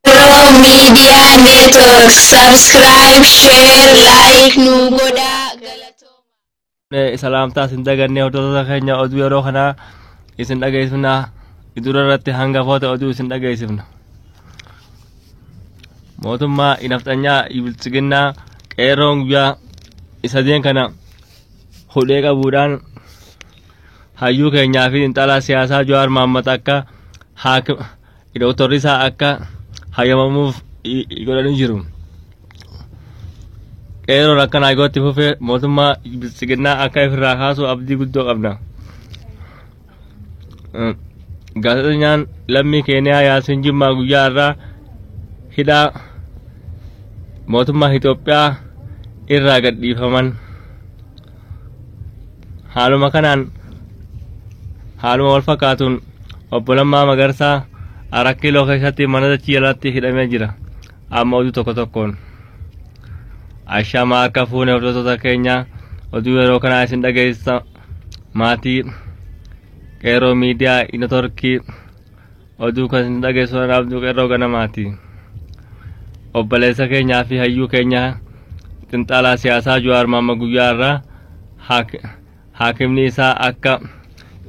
Oromo Media Network subscribe, share, like nu godha. Galatoomaa. salaamtaa isin daganne hordoftoota keenya oduu yeroo kanaa isin dhageessifna idura irratti hangafoota oduu isin dhageessifna mootummaa inafxanyaa biltsiginnaa qeerroon guyyaa isa deen kana hudhee qabuudhaan hayyuu keenyaa fi xinxalaa siyaasaa Jawaar Mohaammed akka haakim dooktorri isaa akka hayyamamuuf godhanii jiru. Qeerroon akka naagootti fufee mootummaa biltsiginnaa akka ifirraa kaasu abdii guddoo qabna. Gaazexeessaan lammii Keeniyaa Yaasiin Jimmaa guyyaa irraa hidhaa mootummaa Itoophiyaa irraa gadhiifaman. Haaluma kanaan haaluma wal fakkaatuun obbo Lammaa Magarsaa Arak Kiiloo keessatti mana dachii jalatti hidhamee jira. Amma oduu tokko tokkoon. Ashamaa akka fuune hordoftoota keenya oduu yeroo kanaa isin dhageessisa. maatii qeeroo miidiyaa inotorkii oduu kan isin dhageessu an abduu qeeroo ganamaati obboleessa keenyaa fi hayyuu keenya xinxaalaa siyaasaa juwaar maamma guyyaa irraa haak- haakimni isaa akka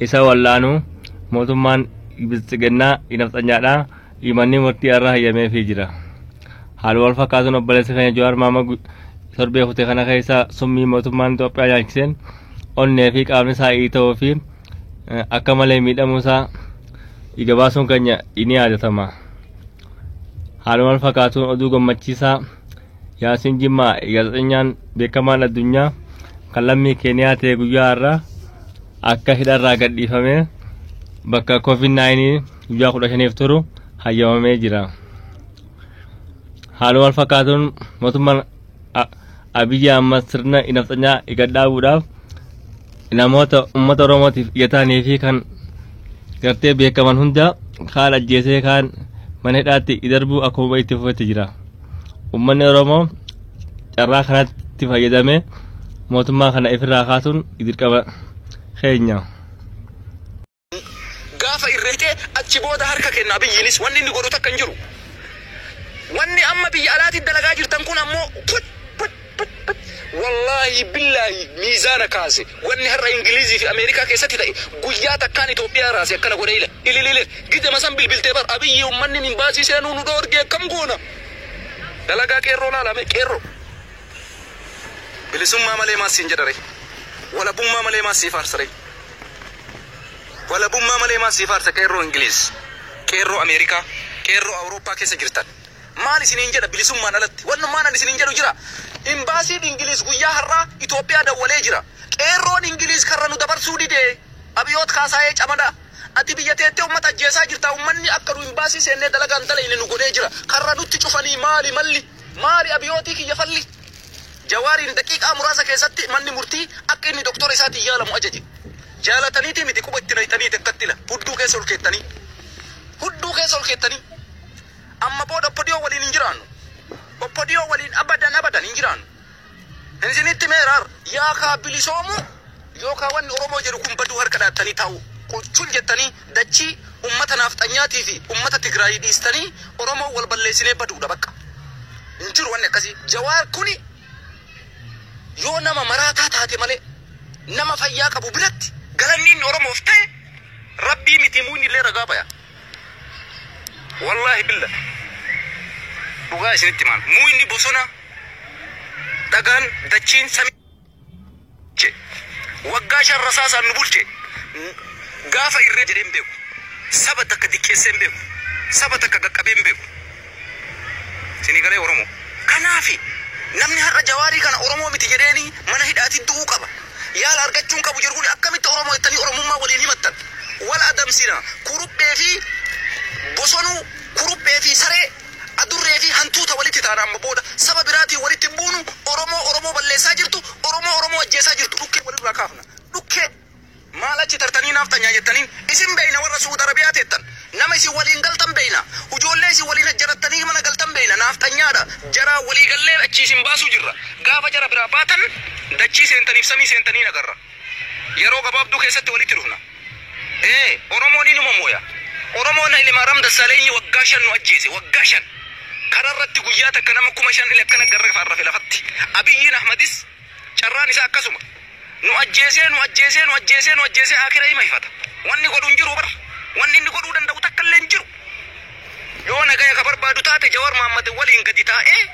isa wallaanu mootummaan biltsiginnaa inafxanyaadha imanni murtii irraa hayyameefii jira Haaluma wal fakkaatuun obboleessi keenya Jawaar Maamag torbee kute kana keessa summii mootummaan Itoophiyaa nyaachiseen onnee fi qaamni isaa iita'uu fi akka malee miidhamuu isaa dhiiga baasuun keenya ni yaadatama. Haaluma wal fakkaatuun oduu gammachiisaa Yaasiin Jimmaa gaazexeessaan beekamaan addunyaa kan lammii Keeniyaa ta'e guyyaa har'aa akka hidharraa gadhiifamee bakka COVID-19 guyyaa 15f turu hayyamamee jira. Haaluma wal fakkaatuun mootummaan A- Abiyyi Ahmad sirna nafxanyaa gad dhaabuudhaaf namoota uummata Oromootiif ija ta'anii fi kan gartee beekaman hunda kaan ajjeesee kaan mana hidhaatti darbuu akkuma itti fufetti jira. Uummanni Oromoo carraa kanatti fayyadamee mootummaa kana ifirraa kaasuun dirqama keenya. gaafa irra hidhee achi booda harka kenna Abiyyiinis wanni inni godhu takka hin jiru. Wanni amma biyya alaati dalagaa jirtan kun ammoo put put put put wallaahi billaahi miizaana kaase wanni har'a Ingiliizii fi Ameerikaa keessatti ta'e guyyaa takkaan Itoophiyaa raase akkana godhe ila ilililil gidema san bilbiltee bar Abiyyii ummanni minbaasii seenuu nu dhoorge akkam goona dalagaa qeerroo laalame qeerroo bilisummaa malee maas siin jedhare walabummaa malee maas siif aarsare. Walabummaa malee maaf siif aarsa qeerroo Ingiliiz, qeerroo Ameerikaa, qeerroo Awurooppaa keessa jirtan. Maal isiniin jedha bilisummaan alatti wannumaan ani isiniin jedhu jira. Imbaasiin Ingiliiz guyyaa har'aa Itoophiyaa dawwalee jira. Qeerroon Ingiliiz karra nu dabarsuu dide. Abiyoot Kaasaayee Camadaa. Ati biyya teettee ummata ajjeesaa jirta. Ummanni akka nu imbaasii seennee dalagaa hin dalayne nu godhee jira. Karra nutti cufanii maali malli? Maali Abiyootii kiyya falli? Jawaariin daqiiqaa muraasa keessatti manni murtii akka inni doktora isaatiin yaalamu ajaje. Jaalataniitii miti quba itti nayxaniiti akkatti ila hudduu keessa ol keettanii. Hudduu keessa ol keettanii. Amma booda Oppadiyoo waliin hin jiraannu. Oppadiyoo waliin abadan abadan hin jiraannu. Hin isinitti himeera har'a. Yaakaa bilisoomuu yookaa wanni Oromoo jedhu kun baduu harka dhaattanii taa'uu. Quchun jettanii Dachii ummata naafxanyaatii fi ummata Tigraayii dhiistanii Oromoon wal balleessinee baduudha baqqa. Hin jiru wanni akkasii. Jawaar kuni yoo nama maraataa taate malee nama fayyaa qabu biratti galanni inni Oromoof ta'e Rabbii miti muunni illee ragaa baya. Wallaahi billa dhugaa isinitti himaan muu inni bosona dhagaan dachiin samii. bulche. Waggaa shan rasaasaan nu bulche. Gaafa irree jedhee hin beeku. Saba takka diqqeessee hin beeku. Saba takka qaqqabee hin beeku. Isinii galee Oromoo? Kanaafi namni har'a Jawaarii kana Oromoo miti jedheeni mana hidhaatii du'uu qaba. Yaala argachuu hin qabu jedhu kuni akkamitti Oromoo jettanii Oromummaa waliin himattan? Wal adamsina. Kuruphee fi bosonuu, kuruphee fi saree. Adurree fi hantuuta walitti taana amma booda saba biraatiin walitti hin buunu Oromoo Oromoo balleessaa jirtu Oromoo Oromoo ajjeesaa jirtu dhukkee walirraa kaafna dhukkee maal achi tartanii naafxanyaa jettaniin isin beeyna warra su'uud arabiyaa teettan nama isin waliin galtan beeyna ujoollee isin waliin hajjarattanii mana galtan beeyna naafxanyaadha jaraa walii gallee achii isin baasuu jirra gaafa jara biraa baatan dachii seentaniif samii seentanii nagarra. Yeroo gabaabduu keessatti walitti dhufna. Ee, Oromoon inuma mooya. Oromoon Haylimaaram Dassaalenyi waggaa shan nu ajjeese, waggaa shan. Karaa irratti guyyaa takka nama kuma shan ile akkana garra faarrafe lafatti. Abiyyiin Ahmadis carraan isaa akkasuma. Nu ajjeesee, nu ajjeesee, nu ajjeesee, nu ajjeesee aakira ima hifata. Wanni godhu hin jiru bar. Wanni inni godhuu danda'u takka illee hin jiru. Yoo nagaya ka barbaadu taate Jawar Mohammed waliin gadi taa'ee,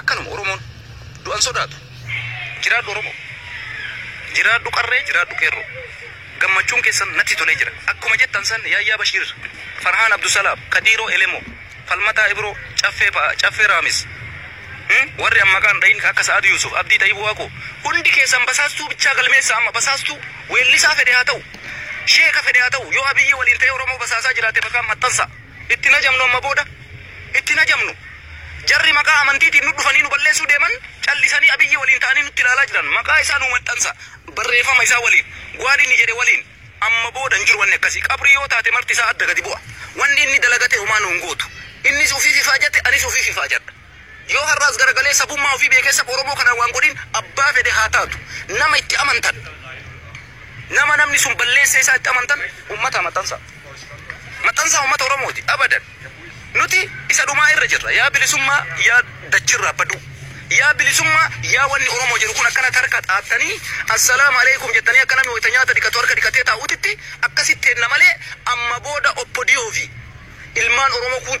Akkanuma Oromoon du'an sodaatu. Jiraadhu Oromoo. Jiraadhu qarree jiraadhu qeerroo. Gammachuun keessan natti tolee jira. Akkuma jettan san Yaayyaa Bashiir, Farhaan Abdusalaam, Kadiiroo Elemoo, Falmataa Ibroo, Caffee fa'a, Caffee Raamis, Him, warri an maqaa hin dhahin ka akka Sa'ad Yuusuf, Abdii Xayib Waaqoo, hundi keessan basaastuu bichaa galmeessaa amma. Basaastuu weellisaa fedhe haa ta'u. Sheeka fedhe haa ta'u. Yoo Abiyyii waliin ta'ee Oromoo basaasaa jiraate maqaan maxxansaa. Itti hin ajamnu amma booda. Itti hin ajamnu. Jarri maqaa amantiitiin nu dhufanii nu balleessuu deeman callisanii Abiyyi waliin ta'anii nutti ilaalaa jiran. Maqaa isaa nuu maxxansa. Barreefama isaa waliin. Waan inni jedhe waliin. Amma booda hin jiru wanni akkasii. Qabrii yoo taate marti isaa adda gadi bu'a. Wanni inni dalagate homaa nu hin gootu. Innis ufiif ifaajate anis ufiif ifaajadha. Yoo har'aas garagalee sabummaa ofii beekee saba Oromoo kanaan waan godhin abbaa fedhe haa taatu nama itti amantan nama namni sun balleessee isaa itti amantan ummataa maxxansaa. Maxxansaa ummata Oromooti abadan. Nuti isa dhumaa irra jirra yaa bilisummaa yaa dachirraa baduu. Yaa bilisummaa yaa wanni Oromoo jedhu kun akkanatti harka xaattanii assalaamu alaikum jettanii akka namni wayita nyaata dhiqatu harka dhiqatee taa'utitti akkasitti teenna malee amma booda Oppo Diyoo fi ilmaan Oromoo kuun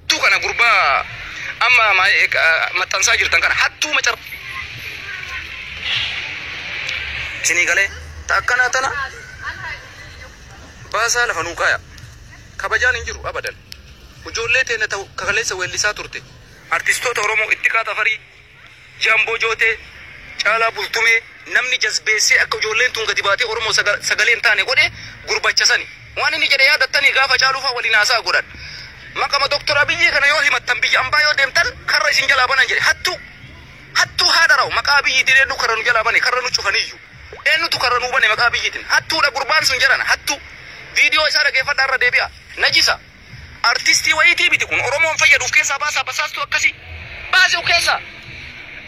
Hattuu kana gurbaa amma maa- eh, ah, maxxansaa jirtan kana hattuu macar isinii galee ta akkana tana baasaa lafa nuu kaaya kabajaan hin jiru abadan ijoollee teenya ta'u kakaleessa weellisaa turte artistoota oromoo itti kaata farii Jamboo Jootee, Caalaa Bultumee, namni jazbeessee akka ijoolleen tun gadi baatee Oromoo sagalee hin taane godhe gurbacha sani. Waan inni jedhe yaadattanii gaafa Caaluu faa waliin haasa'a godhan. Maqama Dr. Abiyyii kana yoo himattan biyya ambaa yoo deemtan karra isin jalaa banan jedhe. Hattuu! Hattuu haadha raw maqaa Abiyyiitiin eenyu karra nu jalaa bane karra nu cufaniyyu. Eenyutu karra nuu bane maqaa Abiyyiitiin. Hattuudha gurbaan sun jarana hattuu. Viidiyoo isaa dhageeffadhaa irra deebi'aa. Najisa! Artistii wayiitii miti kun oromoon fayyadu uf keessaa baasaa basaastuu akkasii baasi uf keessaa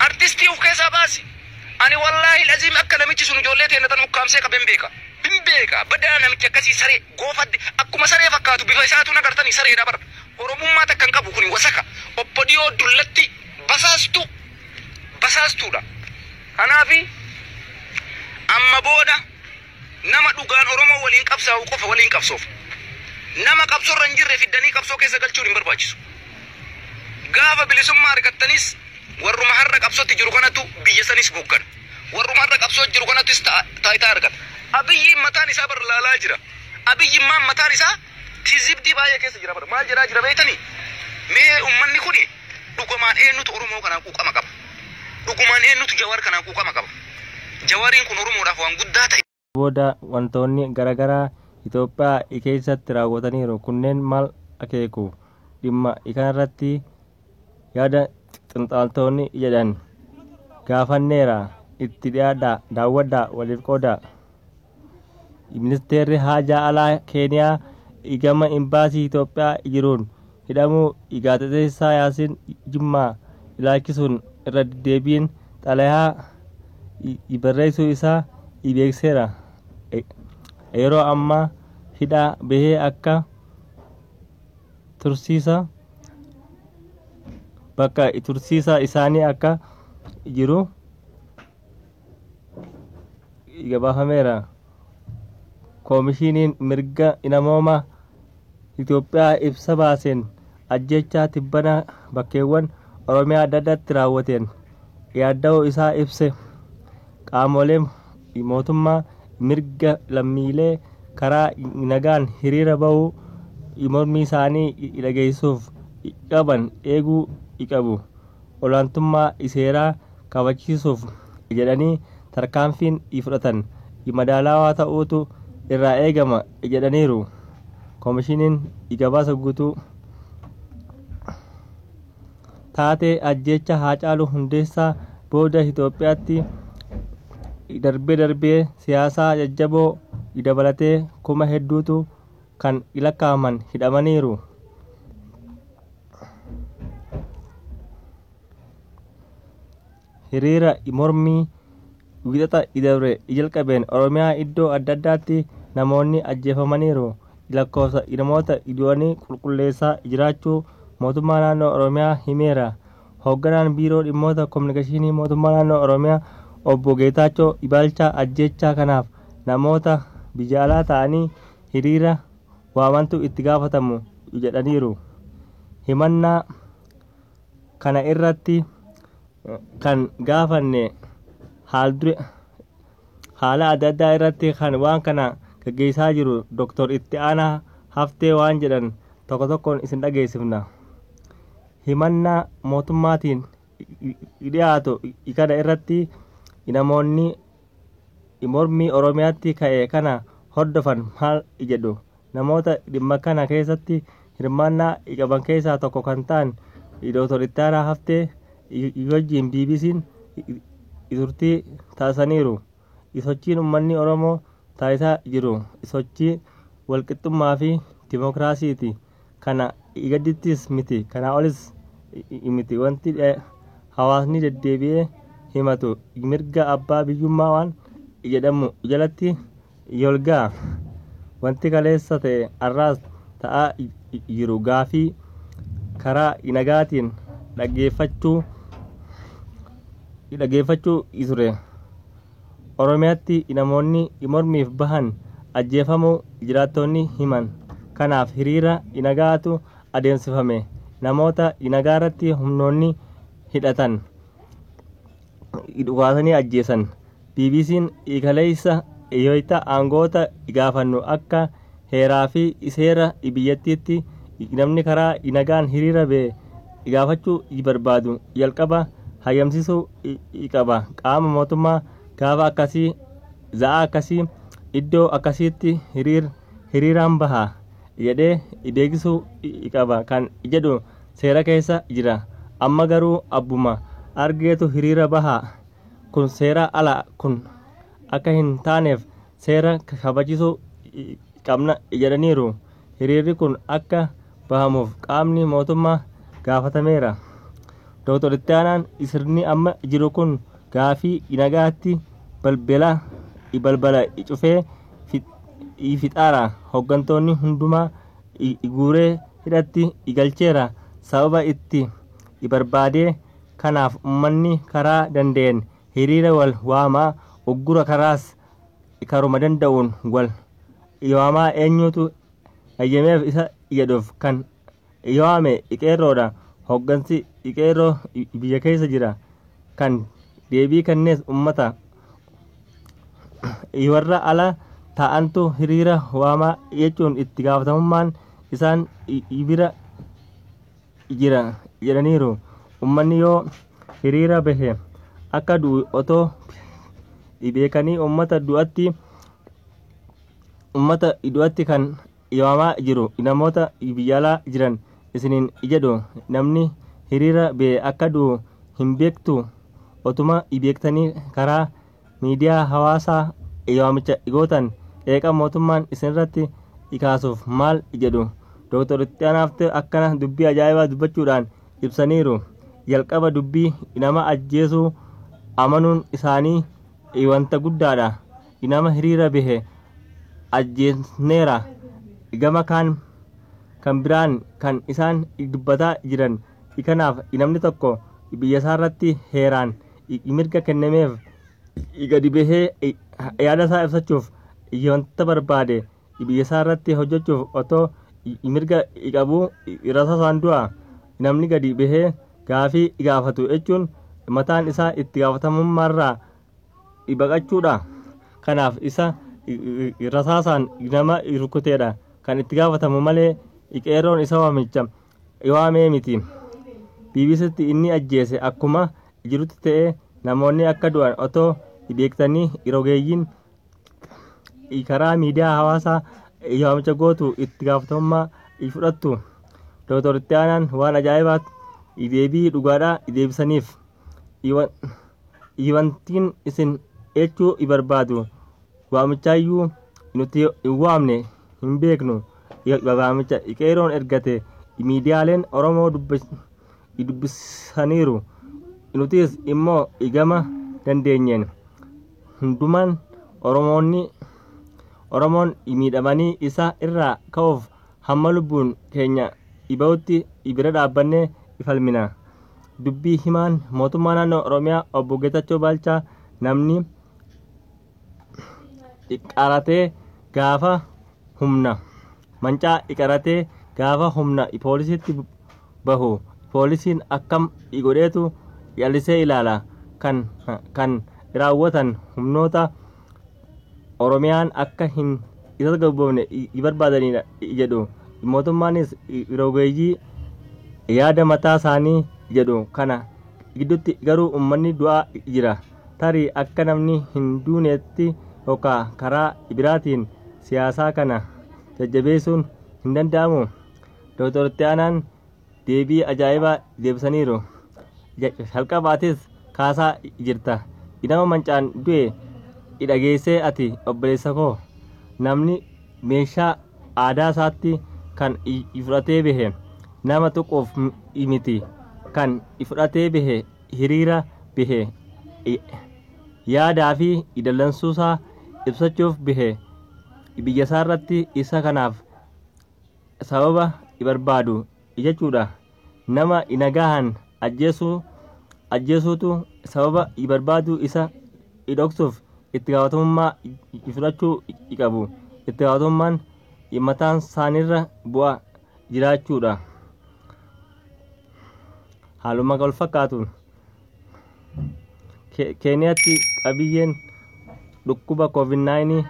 artistii uf keessaa baasi ani wallaahil aziim akka namichi sun ijoollee teenna tana ukkaamsee qaben beeka hin beeka badaa namichi akkasii saree goofadde akkuma saree fakkaatu bifa isaatu hin agartanii sareedha bar oromummaa takka hin qabu kuni wasaka oppodiyoo dullatti basaastuu basaastuudha kanaafi amma booda Nama dhugaan Oromoo waliin qabsaa'u qofa waliin qabsoofna. Nama qabsorra hin jirre fiddanii qabsoo keessa galchuun hin barbaachisu. Gaafa bilisummaa argattanis warruma har'a qabsotti jiru kanatu biyya sanis hooggana. Warruma har'a qabsoo jiru kanatis ta- taayitaa argata. Abiyyiin mataan isaa bar laalaa jira. Abiyyimmaan mataan isaa Kijibdii baay'ee keessa jira bara. Maal jedhaa jira beektanii? Mee ummanni kuni dhugumaan eenyutu Oromoo kanaan quuqama qaba? Dhugumaan eenyutu Jawaar kanaan quuqama qaba? Jawaariin kun Oromoodhaaf waan guddaa ta'e. booda wantoonni garagaraa Itoophiyaa I keessatti raawwataniiru kunneen maal akeeku? Dhimma I kanarratti yaada xinxaaltoonni jedhan gaafanneera itti dhiyaadhaa daawwadhaa waliif qoodaa. Ministeerri haajaa alaa Keeniyaa igama imbaasii Itoophiyaa jiruun hidhamuu gaazexeessaa Yaasiin Jimmaa ilaachisuun irra deddeebiin xalayaa barreessuu isaa beeksiseera. Yeroo ammaa hidhaa bahee akka tursiisa bakka tursiisa isaanii akka jiru gabaafameera. Koomishiniin mirga namoomaa Itoophiyaa ibsa baaseen ajjechaa tibbana bakkeewwan Oromiyaa adda addaatti raawwateen yaadda'uu isaa ibse. Qaamoleen mootummaa mirga lammiilee karaa nagaan hiriira ba'uu mormii isaanii dhageessuuf qaban eeguu qabu. Olaantummaa seeraa kabachiisuuf jedhanii tarkaanfiin fudhatan madaalawaa ta'uutu irraa eegama jedhaniiru Komishiniin Gabaasa Guutuu. Taatee ajjeechaa Haacaaluu Hundeessaa booda Itoophiyaatti darbee darbee siyaasaa jajjaboo dabalatee kuma hedduutu kan lakkaa'aman hidhamaniiru. hiriira mormii wiixata idabre jalqabeen Oromiyaa iddoo adda addaatti namoonni ajjeefamaniiru. Lakkoofsa namoota du'anii qulqulleessaa jiraachuu mootummaa naannoo Oromiyaa himeera. Hoogganaan biiroo dhimmoota kominikeeshinii mootummaa naannoo Oromiyaa obbo Geetaachoo Ibaalchaa ajjeechaa kanaaf namoota biyya alaa ta'anii hiriira waamantu itti gaafatamu jedhaniiru. Himannaa kana irratti kan gaafanne haal dure haala adda addaa irratti kan waan kana gaggeessaa jiru Dr. Itti Aanaa Haftee waan jedhan tokko tokkoon isin dhageessifna. Himannaa mootummaatiin dhiyaatu kana irratti namoonni mormii Oromiyaatti ka'e kana hordofan maal jedhu? Namoota dhimma kana keessatti hirmaannaa qaban keessaa tokko kan ta'an Dooktar Ittaanaa Haftee wajjin BBC'n turtii taasisaniiru. Sochiin uummanni Oromoo taasisaa jiru sochii walqixxummaa fi dimokiraasiiti. kana gadittis miti kanaa olis miti wanti hawaasni deddeebi'ee himatu mirga abbaa biyyummaa waan jedhamu jalatti yolgaa wanti kaleessa ta'e har'aas ta'aa jiru gaafii karaa nagaatiin dhaggeeffachuu dhaggeeffachuu ture. Oromiyaatti namoonni mormiif bahan ajjeefamuu jiraattoonni himan. Kanaaf hiriira nagaatu adeemsifame. Namoota nagaarratti humnoonni hidhatan dhukaasanii ajjeesan. BBC'n kaleessa wayita aangoota gaafannu akka heeraa fi seera biyyattiitti namni karaa nagaan hiriira bee gaafachuu barbaadu jalqaba hayyamsiisuu qaba qaama mootummaa gaafa akkasii za'aa akkasii iddoo akkasiitti hiriir hiriiraan baha jedhee beeksisuu qaba kan jedhu seera keessa jira amma garuu abbuma argeetu hiriira baha kun seera ala kun akka hin taaneef seera kabachisuu qabna jedhaniiru. Hiriirri kun akka bahamuuf qaamni mootummaa gaafatameera. Dooktar Ittaanaan sirni amma jiru kun gaafii nagaatti balbela balbala cufee fixaara. Hooggantoonni hundumaa guuree hidhatti galcheera. Sababa itti barbaadee kanaaf ummanni karaa danda'een hiriira wal waamaa uggura karaas karuma danda'uun wal waamaa eenyutu ayyameef isa jedhuuf kan waame qeerroodha hoggansi qeerroo biyya keessa jira kan deebii kennees ummata warra ala taa'antu hiriira waamaa jechuun itti gaafatamummaan isaan bira jira jedhaniiru. Ummanni yoo hiriira bahe akka du'u otoo beekanii ummata du'atti ummata du'atti kan yaamaa jiru namoota biyya alaa jiran isiniin jedhu namni hiriira bahe akka du'u hin beektu otuma beektanii karaa Miidiyaa hawaasaa waamicha gootan qeeqa mootummaan isinirratti kaasuuf maal jedhu? Dooktar Ittianaa Haftee akkana dubbii ajaa'ibaa dubbachuudhaan ibsaniiru. Jalqaba dubbii nama ajjeesuu amanuun isaanii wanta guddaadha. Nama hiriira bahe ajjeesneera. Gama kaan kan biraan kan isaan dubbataa jiran Kanaaf namni tokko biyya isaa irratti heeraan mirga kennameef gadi bahee yaada isaa ibsachuuf wanta barbaade biyya isaa irratti hojjechuuf otoo mirga qabuu rasaa isaan du'a namni gadi bahee gaafii gaafatu jechuun mataan isaa itti gaafatamummaa irraa baqachuudha. Kanaaf isa rasaasaan nama rukuteedha kan itti gaafatamu malee qeerroon isa waamicha Iwaamee miti. BBCtti inni ajjeese akkuma jirutti ta'ee namoonni akka du'an otoo beektanii rogeeyyiin karaa miidiyaa hawaasaa waamicha gootu itti gaafatamummaa fudhattu. Dr. Itti Aanaan waan ajaa'ibaatti deebii dhugaadhaa deebisaniif. Iwantiin isin jechuu barbaadu waamichaayyuu nuti hin waamne hin beeknu. waamicha qeeroon ergate miidiyaaleen Oromoo dubbisaniiru. Nutis immoo gama dandeenyeen hundumaan Oromoonni Oromoon miidhamanii isaa irraa ka'uuf hamma lubbuun keenya dhiba'utti bira dhaabbannee falmina. Dubbii himaan mootummaa naannoo Oromiyaa obbo Geetachoo Baalchaa namni iqaratee gaafa humna mancaa iqaratee gaafa humna poolisiitti bahu poolisiin akkam igodheetu yalisee ilaala kan kan raawwatan humnoota oromiyaan akka hin isas gabboofne ibarbaadaniidha jedhu mootummaanis rogeeyyii yaada mataa isaanii jedhu kana gidduutti garuu ummanni du'aa jira. tarii akka namni hin duuneetti yookaa karaa ibiraatiin siyaasaa kana jajjabeessuun hin danda'amuu? Doktor Itti Aanaan deebii ajaa'ibaa deebisaniiru. Ja- Jalqabaatis kaasaa jirta. Nama mancaan du'e dhageessee ati obboleessa koo. Namni meeshaa aadaa isaatti kan i- fudhatee bahe nama tuquuf m- miti kan fudhatee bahe hiriira bihe yaadaa fi dallansuusaa ibsachuuf bihe biyyasaa irratti isa kanaaf sababa barbaadu jechuudha nama nagahan ajjeesuu ajjeesuutu sababa barbaadu isa dhoksuuf itti gaafatamummaa fudhachuu qabu itti gaafatamummaan mataan isaaniirra bu'a jiraachuudha. Haaluma wal fakkaatuun Ke- Keeniyaatti qabiyyeen dhukkuba COVID-19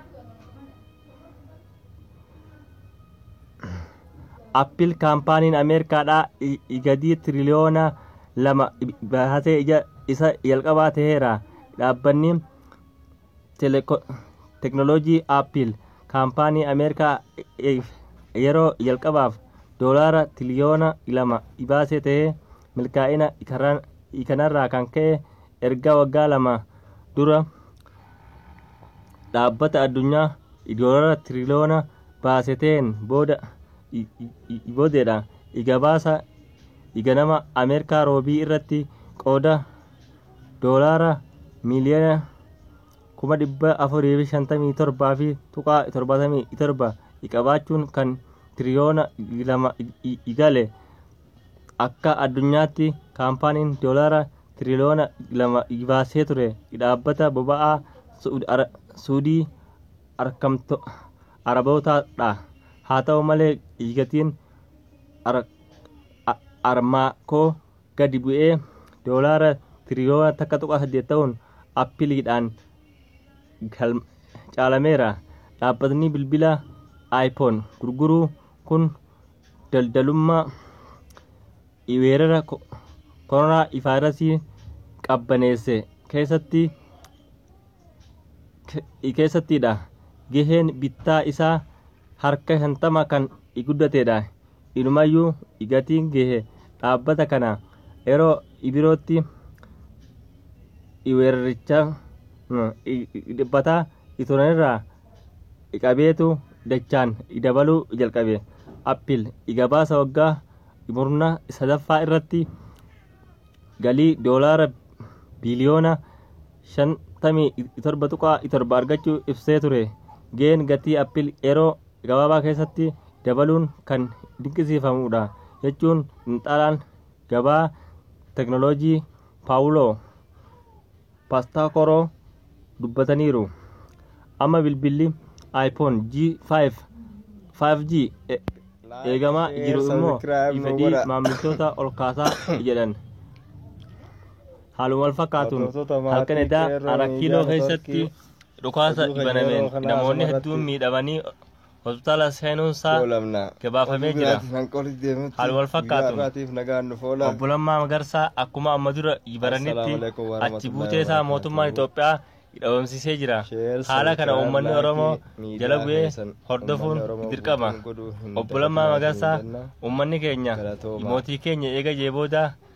Appiil kaampaaniin Ameerikaadhaa i- i- gadii tiriliyoona lama i- baasee ija isa jalqabaa ta'eera. Dhaabbanni teknolojii Apple kaampaanii Ameerikaa yeroo jalqabaaf doolaara tiliyoona lama ibaasee ta'ee milkaa'ina kanarraa kan ka'e erga waggaa lama dura dhaabbata addunyaa doolaara tiliyoona baaseteen booda boodeedha. Igabaasa iganama Ameerikaa roobii irratti qooda doolaara miiliyoona kuma dhibba afurii fi shantamii torbaa fi tuqaa torbatamii torba qabaachuun kan tiriyoona lama gale akka addunyaatti kaampaaniin doolaara tiriyoona lama baasee ture dhaabbata boba'aa suudii arkamto arabootaadha haa ta'u malee gatiin armaakoo gadi bu'ee doolaara tiriyoona takka tuqaa saddeet ta'uun appiliidhaan caalameera. Dhaabbatni bilbila iPhone gurguru kun daldalummaa weerara koronaa vaayirasii qabbaneesse keessatti keessattidha. Gaheen bittaa isaa harka shantama kan guddatedha. Inumayyuu gatiin gahe dhaabbata kana yeroo birootti weeraricha dhiphataa turanirraa qabeetu dachaan dabaluu jalqabe. Appil gabaasa waggaa murna sadaffaa irratti galii doolaara biliyoona 57.7 argachuu ibsee ture. Gaheen gatii Appil yeroo gabaabaa keessatti dabaluun kan dinqisiifamuudha jechuun xinxalaan gabaa teknooloojii Paawuloo Pastaakoroo dubbataniiru. Amma bilbilli iPhone G5 5G e- eegamaa Like, jiru share, immoo subscribe nu fedhii godha. maamiltoota ol kaasaa jedhan. Haaluma wal fakkaatuun Hordoftoota maatii halkan edaa qeerroo araa miidiyaa kiiloo keessatti networkii. dhukaasa banameen namoonni hedduun miidhamanii hospitaala seenuunsaa gabaafamee jira. Haal wal fakkaatuun obbo Lammaa Magarsaa akkuma amma dura baranitti achi buuteesaa mootummaan Itoophiyaa dhabamsiisee jira. Haala kana uummanni Oromoo jala bu'ee hordofuun dirqama. Obbo Lammaa Magarsaa uummanni keenya mootii keenya eega jee booda